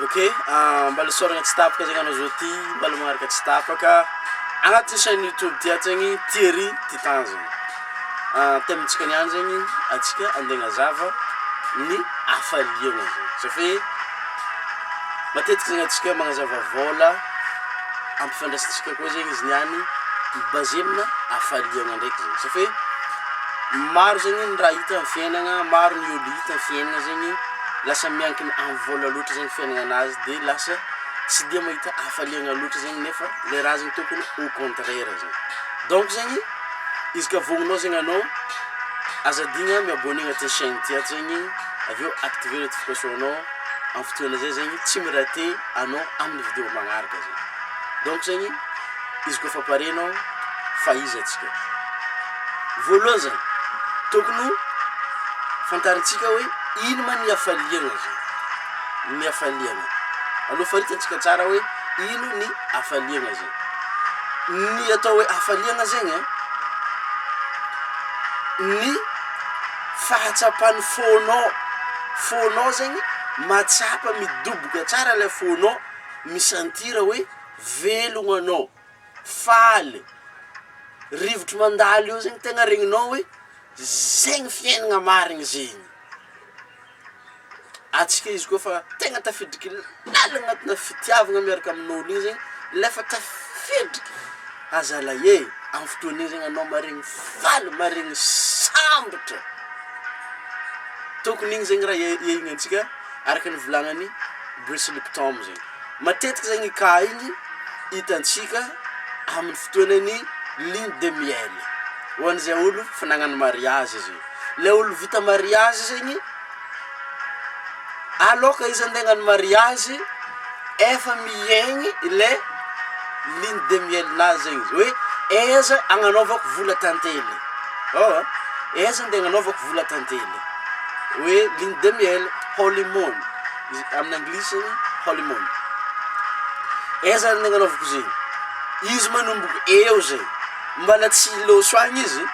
Ok ah mbala isaoragna tsy tapaka zegny anao zao ty mbala magnaraka tsy tapaka agnatin'ny chaine youtube ty ato zegny Thierry Titanjagna ah thème-tsika niany zegny antsika ande agnazava ny hafaliagna zegny satria matetiky zegny antsika magnazava vôla ampifandraisintsika koa zegny izy niany mi-baser amina hafaliagna ndraiky zegny satria maro zegny ny raha hita am'fiainagna maro ny olo hita am'fiainagna zegny. lasa miankina amin'ny vola loatra zegny fiaignanazy de lasa tsy dia mahita hafaliagna loatra zegny nefa le raha zegny tokony au contraire zegny donc zegny izy ka vogninao zegny anao aza adigna mi abonner agnatin'ny chaine ty ato zegny avy eo activer notification anao amin'ny fotoagna zay zegny tsy mi-rater anao amin'ny video magnaraka zegny donc zegny. Izy koa efa pare nao fa iza atsika voalohany zany tokony ho fantarintsika hoe ino ma ny hafaliana zany ny hafaliana aloha faritantsika tsara hoe ino ny hafaliana zany ny atao hoe hafaliana zegny a ny fahatsapan'ny fonao fonao zegny mahatsapa midoboka tsara lay fonao mi-sentir hoe Velogno anao, faly, rivotro mandalo eo zegny tegna regninao hoe zegny fiaignana marigny zegny, antsika izy koa fa tegna tafiditry lalina agnatinà fitiavagna miaraka amin'olo io zegny le efa tafiditry à zalahy e, amy fotoagna io zegny anao maharegny faly, maharegny sambatra, tokony igny zegny raha iaignantsika araka ny volagnan'i Bruce Lipton zegny. Matetika zegny i cas igny hitantsika amin'ny fotoanan'ny lune de miel, ho an'izay olo fa nagnano mariazy izy io, le olo vita mariazy zegny, aloka izy ande hagnano mariazy efa mihaigny le lune de miel nazy zegny izy, hoe aiza agnanaovako vola tantely, ôhatra aiza ande agnanaovako vola tantely, hoe lune de miel, holy moon. Amin'ny anglisy, holy moon. Aiza zany ny agnanaovako zegny? Izy manomboko eo zay, mbala tsy hiloso agny izy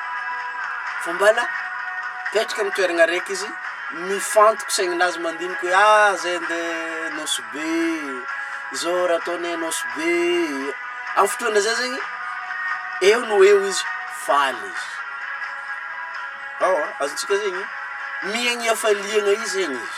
fa mbala mipetraka amin'ny toeragna araiky izy, mifantoka saigninazy mandiniky hoe ah zay andeha Nosy Be, zao raha atao anie Nosy Be, amin'ny fotoagna zay zegny eo no eo izy faly izy, azontsika zegny mihaigny hafaliagna io zegny izy.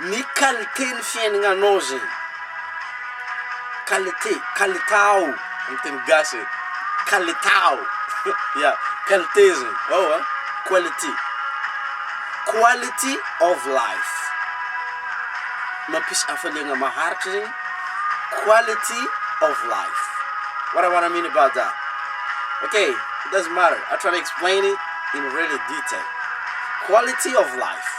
Ny qualité ny fiainagnanao zegny, qualité, kalitao amin'ny teny gasy e, kalitao, ya, qualité zegny, ao an, quality, quality of life, mampisy hafaliagna maharitra zegny, quality of life, what i wanna mean about that, ok, it doesn't matter, i try to explain it in really detail, quality of life.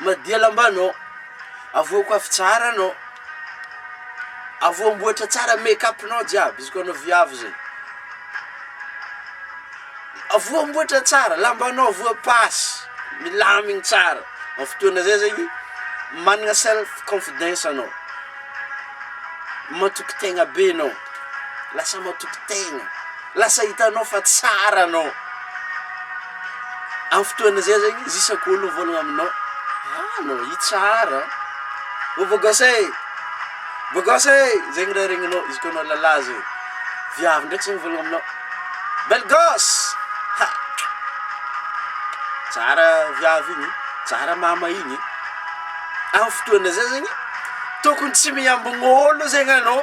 Madia lambanao, avoako afo tsara anao, avoamboatra tsara make up nao jiaby, izy koa anao viavy zay, avoamboatra tsara, lambanao avoapasy, milamigny tsara, am fotoana zay zegny managna self confidence anao, matoky tegna be anao. Lasa matoky tegna, lasa hitanao fa tsara anao, amin'ny fotoana zay zegny izy isaky olo mivôlagna aminao, ah anao io tsara an, ô beau gosse e, beau gosse e, zegny raha regninao izy koa anao lalah zay, viavy ndraiky zay mivôlagna aminao, belle gosse, ha tsara viavy igny, tsara mama igny, amin'ny fotoana zay zegny tokony tsy miambogno olo zegny anao.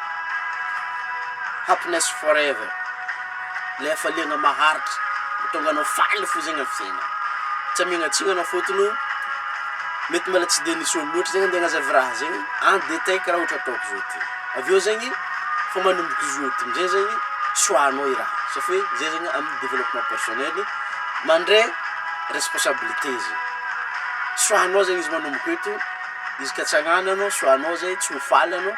Happiness forever, ilay hafaliana maharitra, mahatonga anao faly fo zegny amin'ny fiainana, tsy amignatsinana fôtony o, mety mbôla tsy de nisy olo loatra zegny ande agnazavy raha zegny en detail karaha ohatra ataoko zao ty, avy eo zegny fa manomboka izy io ty amizay zegny choix-nao i raha io, satria hoe zay zegny amin'ny développement personnel mandray responsabilité zegny, choix-nao zegny izy manomboka eto, izy ka tsy agnananao choix-nao zay tsy ho faly anao.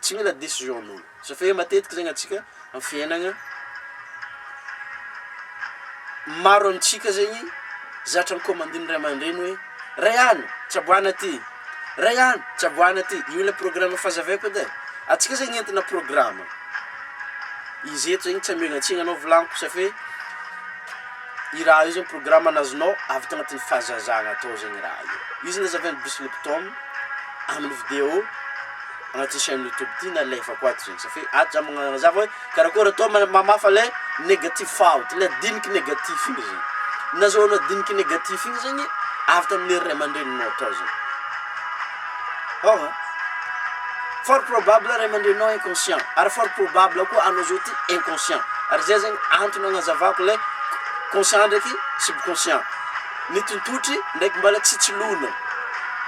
tsy mila decision nolo za fa matetika zegny atsika am fiainagna maro amitsika zegny zatra ny commandin'ny ray aman-dreny hoe ray an tsaboana ty ray an tsaboana ty io le programme faza veko edy e atsika zegny entina programme izy eto zegny tsy amelantsiny anao volaniko safe Io raha io zany programme nazonao avy tagnatin'ny fahazazagna tao zegny raha io, io zany nazavain'i Bruce Lipton amin'ny video agnatin'ny chaine YouTube ty nalefako ato zegny sa fe ato za magnazava hoe karakôry atao ma- mamafa le negatif faute le diniky negatif igny zegny, nazahoanao diniky negatif igny zegny avy tamin'ny ray aman-dreninao tao zegny. Ao an! Fort probable ray aman-dreninao inconscient, ary fort probable koa anao zao ty inconscient, ary zay zegny antony agnazavako le conscient ndraiky subconscient, ny tontotry ndraiky mbala tsy tsy logno,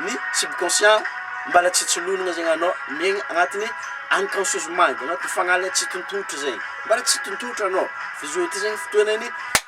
ny subconscient mbala tsy tsy lonogna zegny anao miaigny agnatiny unconscious mind, agnatiny fagnahy le tsy tontotry zegny, mbala tsy tontotry anao, fa zao ty zegny fotoanany.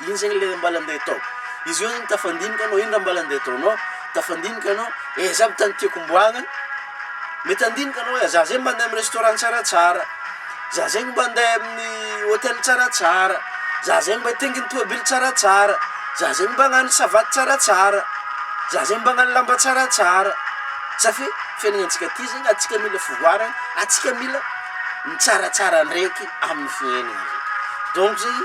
Ino zegny le mbala andeha atao? Izy io zany tafandinika anao, ino raha mbala andeha ataonao? Tafandinika anao, eh za mitady tiako homboagna an! Mety handinika anao hoe za zay mba andeha amin'ny restaurant tsaratsara, za zegny mba andeha amin'ny hotel tsaratsara, za zegny mba hitaingina tôbily tsaratsara, za zegny mba hagnano savaty tsaratsara, za zegny mba hagnano lamba tsaratsara, za fe fiaignantsika ty zegny antsika mila fivoarana, antsika mila mitsaratsara ndraiky. amin'ny fiainana zao. Donc zany,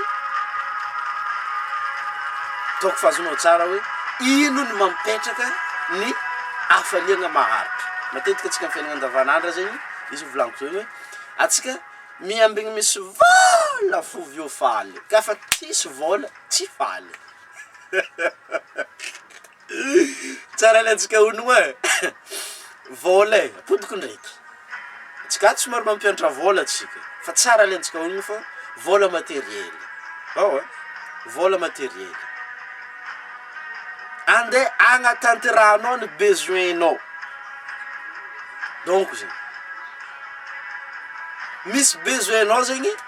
donc fa azonao tsara hoe ino no mampetraka ny hafaliana maharitra. Matetika antsika amin'ny fiainana andavanandra zegny, izy io volaniko zao hoe, antsika miambigny misy vôla fô avy eo faly, ka fa tsisy vôla tsy faly. Tsara le antsika hono e! Vôla e! Ampodiko ndraiky! Antsika ato somary mampiantra vôla antsika fa tsara le antsika hono fa vôla materiely aoa vôla materiely ande agnatanterahanao ny besoin-nao donko zany misy besoin-nao zegny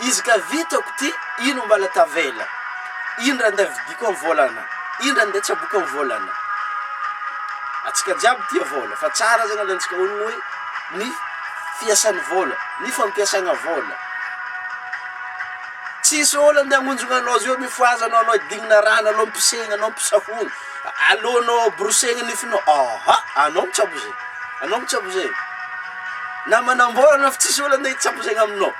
Izy ka vitako ty ino mbala tavela ino ra nda vidiko am volana ino ra nda tsaboko am volana atsika jiaby tia vola fa tsara zany alantsika orin oe ny fiasan vola ny fampiasagna vola tsisy olo ande agnonjogna anao zeo mifohaza anao anao idignina rano alou mpisegna anao mpisahogno alou anao brosegna nifinao aa anao mitsabo ze anao mitsabo ze na manambola anao fa tsisy olo ande hitsabo zegny aminao.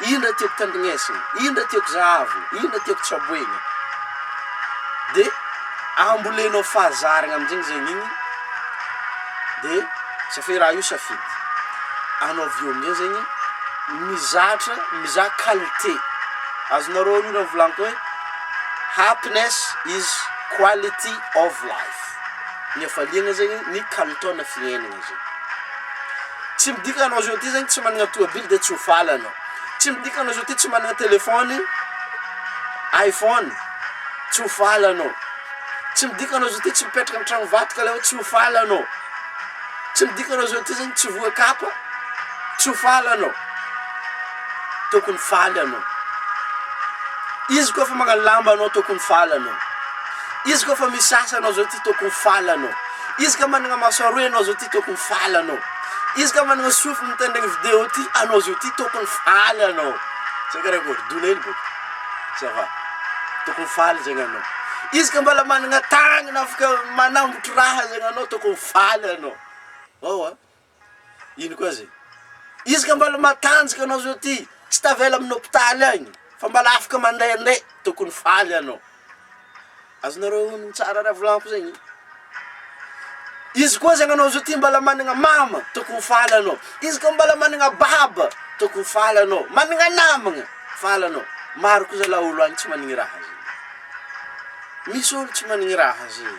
Iny ndray tiako tandrinesina, iny ndray tiako zahavina, iny ndray tiako tsaboina. De ambolenao fahazaragna aminjegny zegny igny de satria hoe raha io safidy anao avy eo amizay zegny mizatra mizaha qualité, azonareo io raha volagniko hoe happiness is quality of life, ny hafaliagna zegny ny kalitaona fiaignana. zay. Tsy midika anao zao ty zany tsy managna toabily de tsy ho faly anao. Tsy midika anao zao ty tsy managna telefony iPhone tsy ho faly anao. Tsy midika anao zao ty tsy mipetraka am tragno vato ka le hoe tsy ho faly anao. Tsy midika anao zao ty zany tsy voa kapa tsy ho faly anao. Tokony faly anao. Izy koa fa magna lamba anao tokony faly anao. Izy koa fa misasa anao zao ty tokony faly anao. Izy ka managna maso aroa enao zao ty tokony faly anao izy ka managna sofy mitendregny video ty anao zao ty tokony faly anao zay kara akory dona hely boka ça va tokony faly zegny anao izy ka mbala managna tagnana afaka manambotry raha zegny anao tokony faly anao oa. Ino koa zay? Izy ka mbala matanjaka anao zao ty, tsy tavela amin'ny hopitaly agny fa mbala afaka mandehandeha, tokony faly anao. Azonareo onony tsara raha volagniko zegny? Izy koa zegny anao zao ty mbala managna mama, tokony faly anao. Izy ka mbala managna baba, tokony faly anao. Managna namagna, faly anao. Maro koa zalahy olo agny tsy managny raha zay. Misy olo tsy managny raha zay.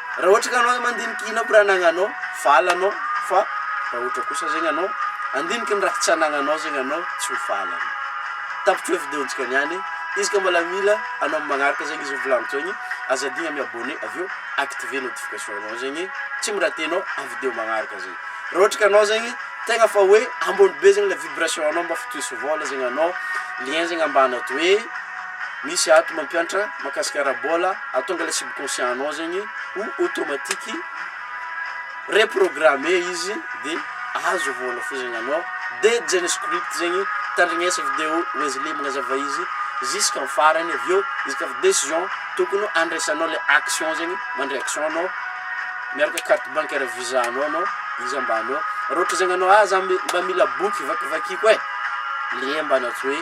Raha ohatra ka anao mandinika ino aby raha anagnanao, vala anao, fa raha ohatra kosa zegny anao handiniky ny raha tsy anagnanao zegny anao tsy ho vala anao. Tapitro e videontsika niany, izy ka mbola mila anao am magnaraka zegny izy volagniko zegny, aza adigna mi abonner avy eo activer notification anao zegny tsy miratenao am video magnaraka zegny. Raha ohatra ka anao zegny tegna fa hoe ambony be zegny le vibration anao mba fa tohizo vôla zegny anao, lien zegny ambany ato hoe. misy ato mampiantra makasika ara-bola atonga le subconscient anao zegny ho automatique reprogramme izy de azo vola fo zegny anao de jane script zegny tandrignesa video wesley magnazava izy jusqu'en farany avy eo izy ka decision tokony andraisanao le action zegny mandray action anao miaraka carte bancaire visa anao anao izy ambanao raha ohatra zegny anao ah za mba mila boky vakivakiko e le ambanatsoe